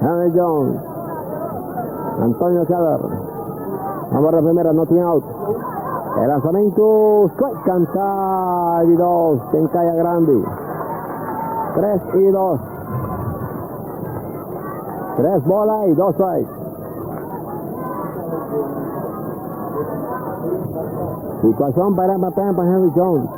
Henry Jones. Antonio Keller. Amor de primera, no tiene out. El lanzamiento strike canta y dos en Calla Grande. 3 y 2. 3 bola y 2 strike. Situación para Henry Jones.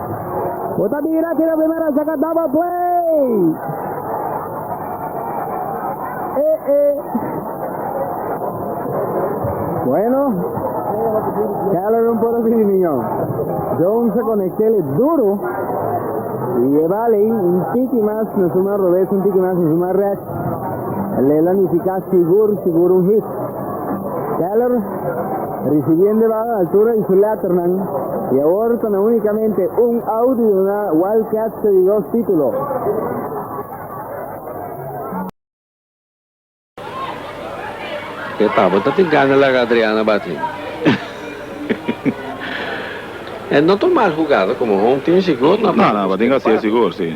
Bota bira kira primera saka double play. Eh eh. Bueno. Keller un por así niño. Jones se conecté le duro. Y lleva lei un tiki más, no suma robes un tiki más, no suma react. Le la nifica seguro, seguro un hit. Keller, risibiendo e baho altura di su letternan y awor ta na unicamente un out di duna Wildcats te di dos titulo. E tabata tin gana laga Adriana batin. e no ta un mal hugada como home team sigur no a No, no, batin ka siya sigur, si.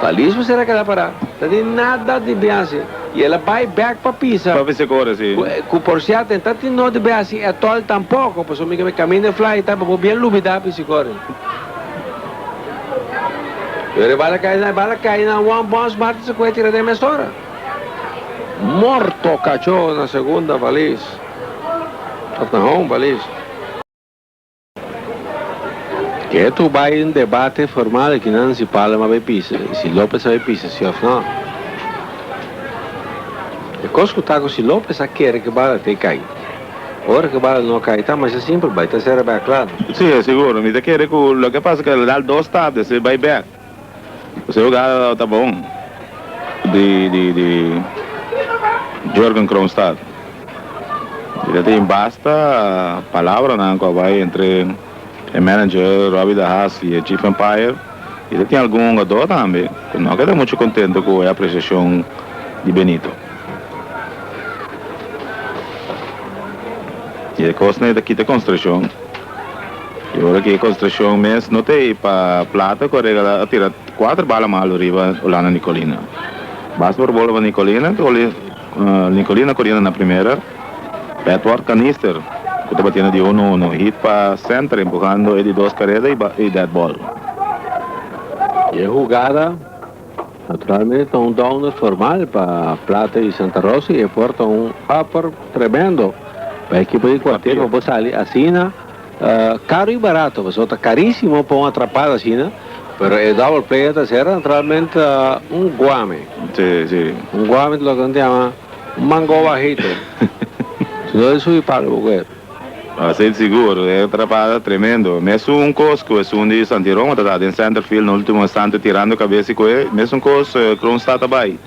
Pa Liz Becerra keda pará, ta di nada di biaha-si i el a bai bèk pa Pisa, ku porsiat e ta tin no di biaha-si etòl tampoko, pasobra mi ke mi kaminda e flaya i ta bo bien lubidá pa e sikòrdi. Pero e bal a kai na e bal a kai na Juan Bosch Martin Sequeira tira den mesora. Morto kachó na segunda pa Liz, òf na home pa Liz. Ke tur bai un debate formal ekinan si Palma bai pisa i si Lopez a bai pisa si òf nò. E kos ku ta ku si Lopez a kere ku e bal a tei kai ora ku e bal a nò kai ta masha simpel bai ta sera bèk klaro. Si, e sigur. Mi ta kere ku loke pasa ku el a dal dos tabes i bai bèk. José Ogada tabata bon di di Jurgen Kronstad. E ta tin basta palabranan cu a bay entre e manager Robbie de Haas y e chief umpire. Y ta tin algun hungador tambe cu no keda mucho contento cu e apreciacion di Benito. Y e cosnan e ta kita concentracion. I ora ki e konstrukshon mes no ta ei pa plata ku a regalá a tira kuater bala malu riba Hulanda Nicolina. Basta por bolba Nicolina ku Nicolina koriendo na primera, Edward Canister ku tabatin di uno uno hit pa senter empuhando e di dos kareda i deadball. I e hugada naturalmente ta un downer formal pa Plata i Santa Rosa i e por ta un upper tremendo pa e ekipo di kuartel pa por sali asina. Caro y barato pasobra ta carisimo pa un atrapada asina, pero e double player ta ser naturalmente un guame, un guame ta loke nan ta yama un mango bajito, si no e su y palo bo cu e. Asey ta sigur, e atrapada tremendo, mesun un cos cu esun di Santi Roma ta ta den centerfield na ultimo instante tirando cabes y cu e, mesun cos Kroonstad a bay.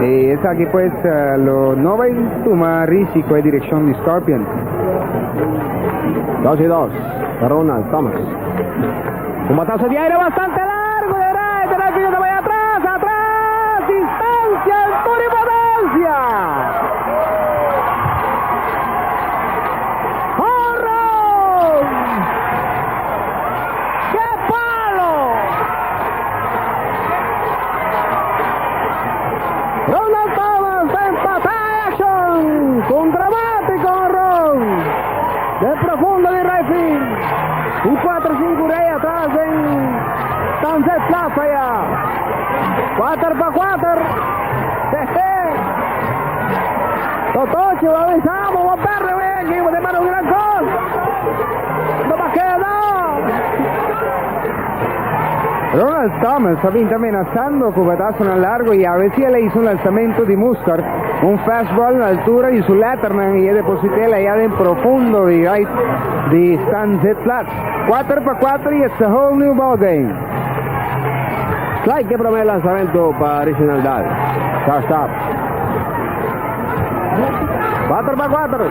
E esaki pues lo no bai tuma risi ku e direkshon di Scorpion. Dos i dos pa Ronald Thomas. Un bataso di aire bastante largu derait e Delfino ta bai atras, atras, distansia es tur importansia! Honron! Ke palo! Ronald Thomas ta empatá e akshon ku un dramátiko honron den profundo di raitfield, un kuater sinku rei atras den Tanzet Plaza ya. Kuater pa kuater. Hehe. Totochi, bo a bisa bo bo a pèrdè wei aki, bo ta manda un gran kos. No ta keda! Ronald Thomas a binti amenasando cu batasonan largo y avesi el a hizo un lanzamento di muskar, un fastball na altura di su letterman y e depositel aya den profundo di right di Stan Zitlat. Cuater pa cuater y it's a whole new ball game. Strike e prome lanzamento pa Reginald Dahl. Shortstop. Cuater pa cuater.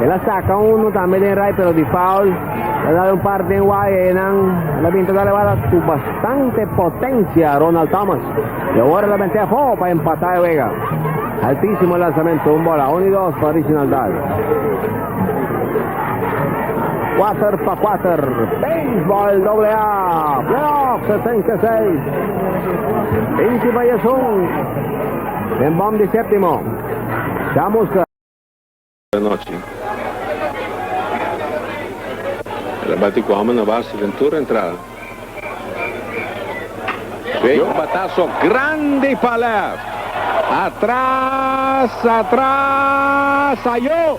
El a saka uno tambe den rai pero di foul. El a dal un par den wai y eynan el a bin ta dal e bala cu bastante potencia Ronald Thomas y awor el a mete afo pa empata e wega. Altisimo e lansamento, un bola, uno y dos pa Originaldad. Cuater pa cuater, Baseball Doble A, Playoff 66, binti pa diesun den bom di septimo, Chamusca. Buen nochi. El a bati cu homber na base den tur entrada. Vey un bataso grandi pa left. Atras, atras, ayo!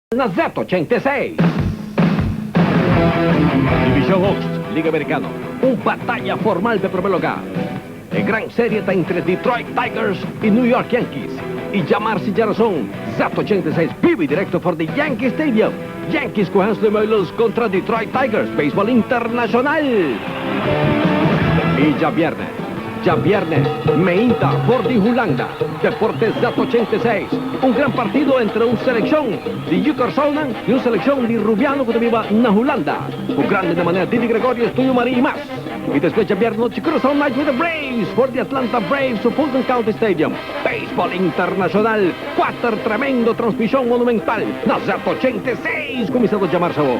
Na Z86. Divishon Oost, Liga Amerikano, un bataya formal den promé lugá. E gran serie ta entre Detroit Tigers i New York Yankees, i djamar si djarason Z86 bibi direkto for di Yankee Stadium, Yankees ku Hansly Meulens kontra Detroit Tigers, beisbòl internashonal! E djabièrnè. Djabièrnè, meinta, for di Hulanda, Deportes Zuid ochenta i seis, un gran partido entre un selekshon di Yukorsounan i un selekshon di Rubiano ku ta biba na Hulanda, ku grandenan manera Didi Gregorius, Tuyo Marie i mas. I despues djabièrnè nochi Curaçao Knights with the Braves for di Atlanta Braves su Fulton County Stadium. Beisbòl internashonal, kuater tremendo transmishon monumental na Zuid ochenta i seis kuminsá ta djamarse awo.